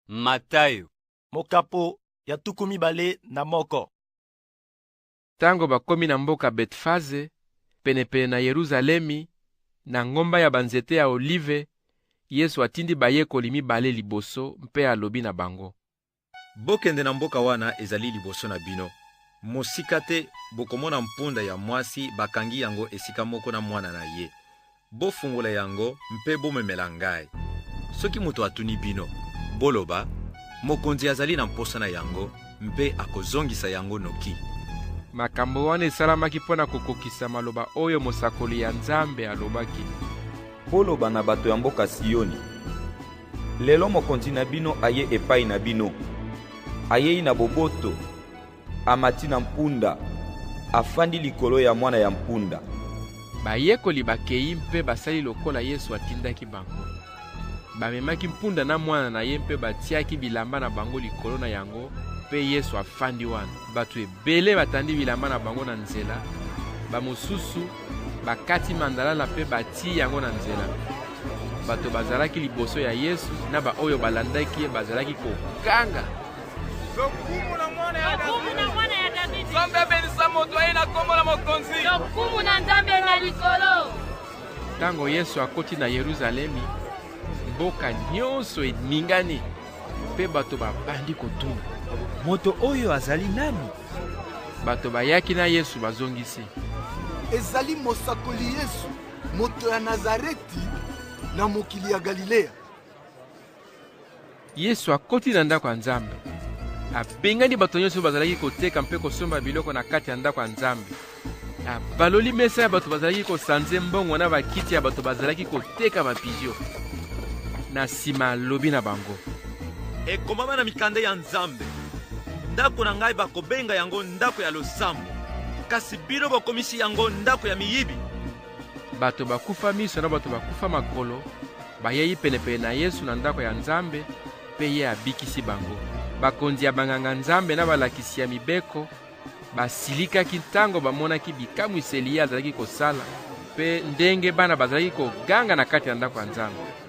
Matayo. Mokapo ya tuku mibale na moko. Tango bakomi na mboka Betfaze, penepene na Yeruzalemi, na ngomba ya banzete ya olive, Yesu atindi bayekoli mibale liboso mpe alobi na bango, Bokende na mboka wana ezali liboso na bino. Mosika te, bokomona mpunda ya mwasi bakangi yango esika moko na mwana na ye. Bofungola yango mpe bomemela ngai. Soki moto atuni bino, boloba, Mokonzi azali na mposa na yango, mpe akozongisa yango noki. Makambo wana esalamaki mpo na kokokisa maloba oyo mosakoli ya Nzambe alobaki. Boloba na bato ya mboka Sioni, lelo mokonzi na bino aye epai na bino, ayei na boboto. Amati na mpunda, afandi likolo ya mwana ya mpunda. Bayekoli bakei mpe basali lokola Yesu atindaki bango. Bamemaki mpunda na mwana na ye mpe batiaki bilamba na bango likolo na yango, mpe Yesu afandi wana. Bato ebele batandi bilamba na bango na nzela, bamosusu bakati mandalala mpe batii yango na nzela. Bato bazalaki liboso ya Yesu na baoyo balandaki ye bazalaki koganga. lokumu na mwana ya davidi nzambe abelisa moto aye na nkombo na mokonzi lokumu na nzambe na likolo ntango yesu akoti na yeruzalemi mboka nyonso eningani mpe bato babandi kotuna moto oyo azali nani bato bayaki na yesu bazongisi ezali mosakoli yesu moto ya nazareti na mokili ya galileya Yesu akoti na ndako ya Nzambe. Abengani bato nyonso bazalaki koteka mpe kosomba biloko na kati ya ndako ya Nzambe. Abaloli mesa ya bato bazalaki kosanze mbongo na bakiti ya bato bazalaki koteka babizio. Na nsima alobi na bango, ekomama na mikanda ya Nzambe, ndako na ngai bakobenga yango ndako ya losambo, kasi bino bokomisi yango ndako ya miyibi. Bato bakufa miso na bato bakufa makolo bayei penepene na Yesu na ndako ya Nzambe, mpe ye abikisi bango. Bakonzi ya banganga Nzambe na balakisi ya mibeko basilikaki ntango bamonaki bikamwiseli ye azalaki kosala mpe ndenge bana bazalaki koganga na kati ya ndako ya Nzambe.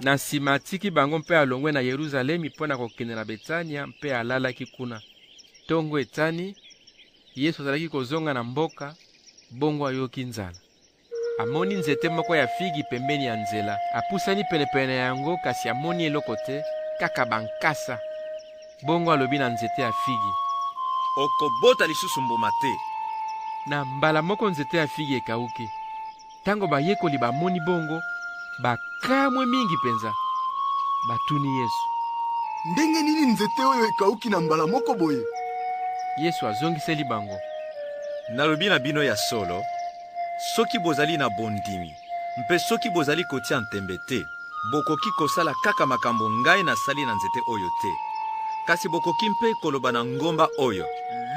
Na nsima atiki bango mpe alongwe na Yeruzalemi mpo na kokende na Betania mpe alalaki kuna. Ntongo etani, Yesu azalaki kozonga na mboka, bongo ayoki nzala. Amoni nzete moko ya figi pembeni ya nzela. Apusani penepene na yango, kasi amoni eloko te, kaka bankasa. Bongo alobi na nzete ya figi, Okobota lisusu mbuma te. Na mbala moko nzete ya figi ekauki. Ntango bayekoli bamoni bongo, bakamwe mingi mpenza. Batuni Yesu, Ndenge nini nzete oyo ekauki na mbala moko boye? Yesu azongiseli bango, Nalobi na bino ya solo, soki bozali na bondimi mpe soki bozali kotia ntembe te, Bokoki kosala kaka makambo ngai nasali na nzete oyo te, kasi bokoki mpe koloba na ngomba oyo,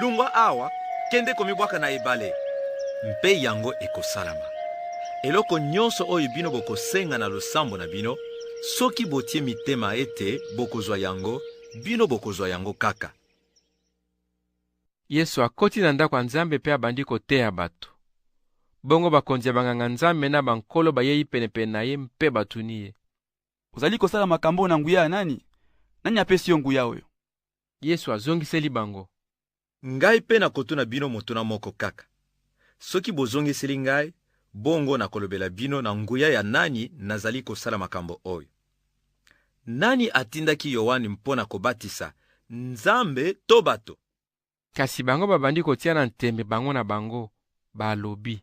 Lungwa awa, kende komibwaka na ebale, mpe yango ekosalama. Eloko nyonso oyo bino bokosenga na losambo na bino, soki botie mitema ete bokozwa yango, bino bokozwa yango kaka. Yesu akoti na ndako ya Nzambe mpe abandi koteya bato. Bongo bakonzi ya banganga Nzambe na bankolo bayei penepene na ye mpe batuni ye. Ozali kosala makambo oyo na nguya ya nani? Nani apesi yo nguya oyo? Yesu azongiseli bango. Ngai mpe nakotuna bino motuna moko kaka. Soki bozongiseli ngai, bongo nakolobela bino na nguya ya nani nazali kosala makambo oyo. Nani atindaki Yoane mpo na kobatisa, Nzambe to bato? Kasi bango babandi kotiana ntembe bango na bango, balobi.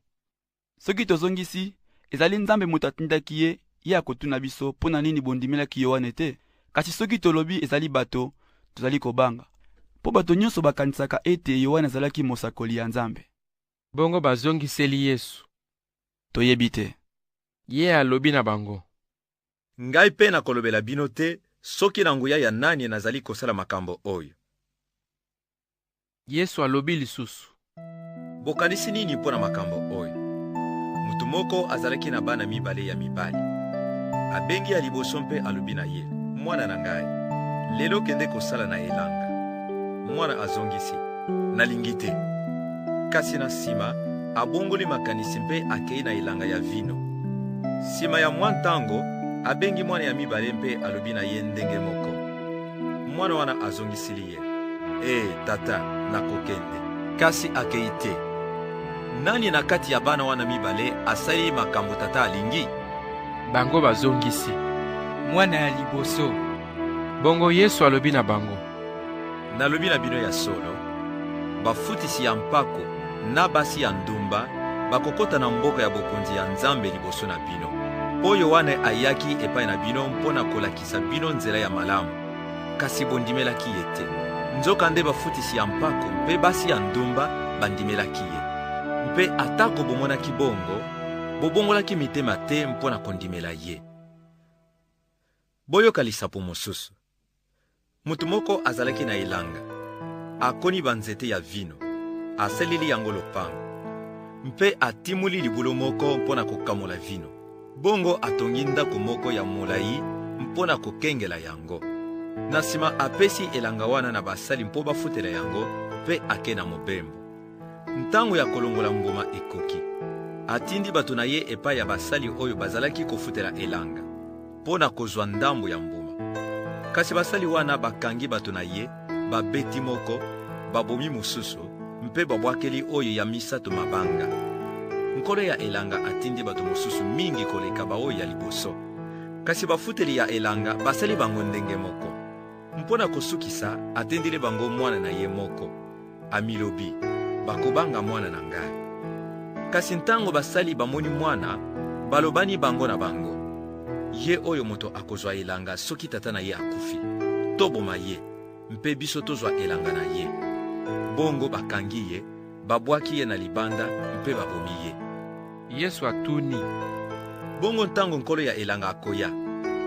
Soki tozongisi, Ezali Nzambe moto atindaki ye, ye akotuna biso, Mpo na nini bondimelaki Yoane te? Kasi soki tolobi, Ezali bato, tozali kobanga, mpo bato nyonso bakanisaka ete Yoane azalaki mosakoli ya Nzambe. Bongo bazongiseli Yesu. Toyebi te. Ye alobi na bango. Ngai mpe nakolobela bino te soki na nguya ya nani nazali kosala makambo oyo. Yesu alobi lisusu. Bokanisi nini mpo na makambo oyo? Moto moko azalaki na bana mibale ya mibali. Abengi ya liboso mpe alobi na ye, Mwana na ngai, lelo kende kosala na elanga. Mwana azongisi, Nalingi te. Kasi na nsima, abongoli makanisi mpe akei na elanga ya vino. Nsima ya mwa ntango, abengi mwana ya mibale mpe alobi na ye ndenge moko. Mwana wana azongisili ye, Ee, eh, tata, nakokende. Kasi akei te. Nani na kati ya bana wana mibale asali makambo tata alingi? Bango bazongisi, Mwana ya liboso. Bongo Yesu alobi na bango, Nalobi na bino ya solo, bafutisi ya mpako na basi ya ndumba bakokota na mboka ya bokonzi ya Nzambe liboso na bino. Mpo Yoane ayaki epai na bino mpo na kolakisa bino nzela ya malamu, kasi bondimelaki ye te. Nzokande bafutisi ya mpako mpe basi ya ndumba bandimelaki ye. Mpe atako bomonaki bongo, bobongolaki mitema te mpo na kondimela ye. Boyoka lisapo mosusu. Moto moko azalaki na elanga, akoni banzete ya vino, asaleli yango lopango, mpe atimoli libulu moko mpo na kokamola vino. Bongo atongi ndako moko ya molai mpo na kokengela yango. Na nsima apesi elanga wana na basali mpo bafutela yango, mpe ake na mobembo. Ntango ya kolongola mbuma ekoki. Atindi bato na ye epai ya basali oyo bazalaki kofutela elanga mpo na kozwa ndambo ya mbuma. Kasi basali wana bakangi bato na ye, babeti moko, babomi mosusu, mpe babwakeli oyo ya misato mabanga. Nkolo ya elanga atindi bato mosusu mingi koleka baoyo ya liboso, kasi bafuteli ya elanga basali bango ndenge moko. Mpo na kosukisa, atindeli bango mwana na ye moko, amilobi, Bakobanga mwana na ngai. Kasi ntango basali bamoni mwana, balobani bango na bango, Ye oyo moto akozwa elanga soki tata na ye akufi, toboma ye, mpe biso tozwa elanga na ye. Bongo bakangi ye Babwaki ye na libanda mpe babomi ye. Yesu atuni, Bongo ntango nkolo ya elanga akoya,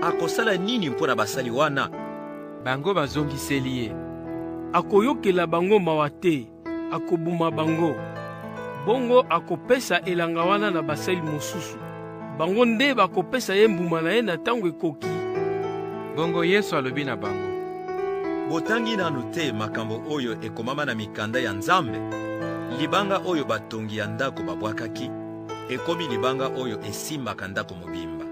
akosala nini mpo na basali wana? Bango bazongiseli ye, Akoyokela bango mawa te, akoboma bango. Bongo akopesa elanga wana na basali mosusu. Bango nde bakopesa ye mbuma na ye na ntango ekoki. Bongo Yesu alobi na bango. Botangi nanu te makambo oyo ekomama na mikanda ya Nzambe? Libanga oyo batongi ya ndako babwakaki ekomi libanga oyo esimbaka ndako mobimba.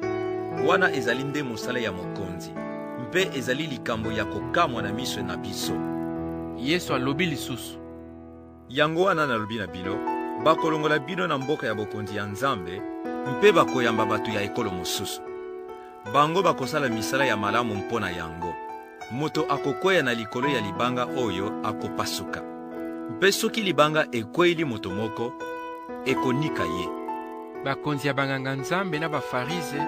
Wana ezali nde mosala ya mokonzi, mpe ezali likambo ya kokamwa na miso na biso. Yesu alobi lisusu. Yango wana nalobi na bino, bakolongola bino na mboka ya bokonzi ya Nzambe mpe bakoyamba bato ya ekolo mosusu. Bango bakosala misala ya malamu mpo na yango. Moto akokweya na likolo ya libanga oyo akopasuka, mpe soki libanga ekweyili moto moko, ekonika ye. Bakonzi ya banganga-nzambe na Bafarize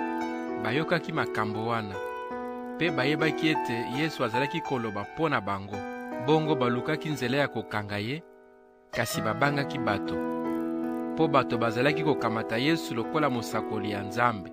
bayokaki makambo wana, mpe bayebaki ete Yesu azalaki koloba mpo na bango. Bongo balukaki nzela ya kokanga ye, kasi babangaki bato, mpo bato bazalaki kokamata Yesu lokola mosakoli ya Nzambe.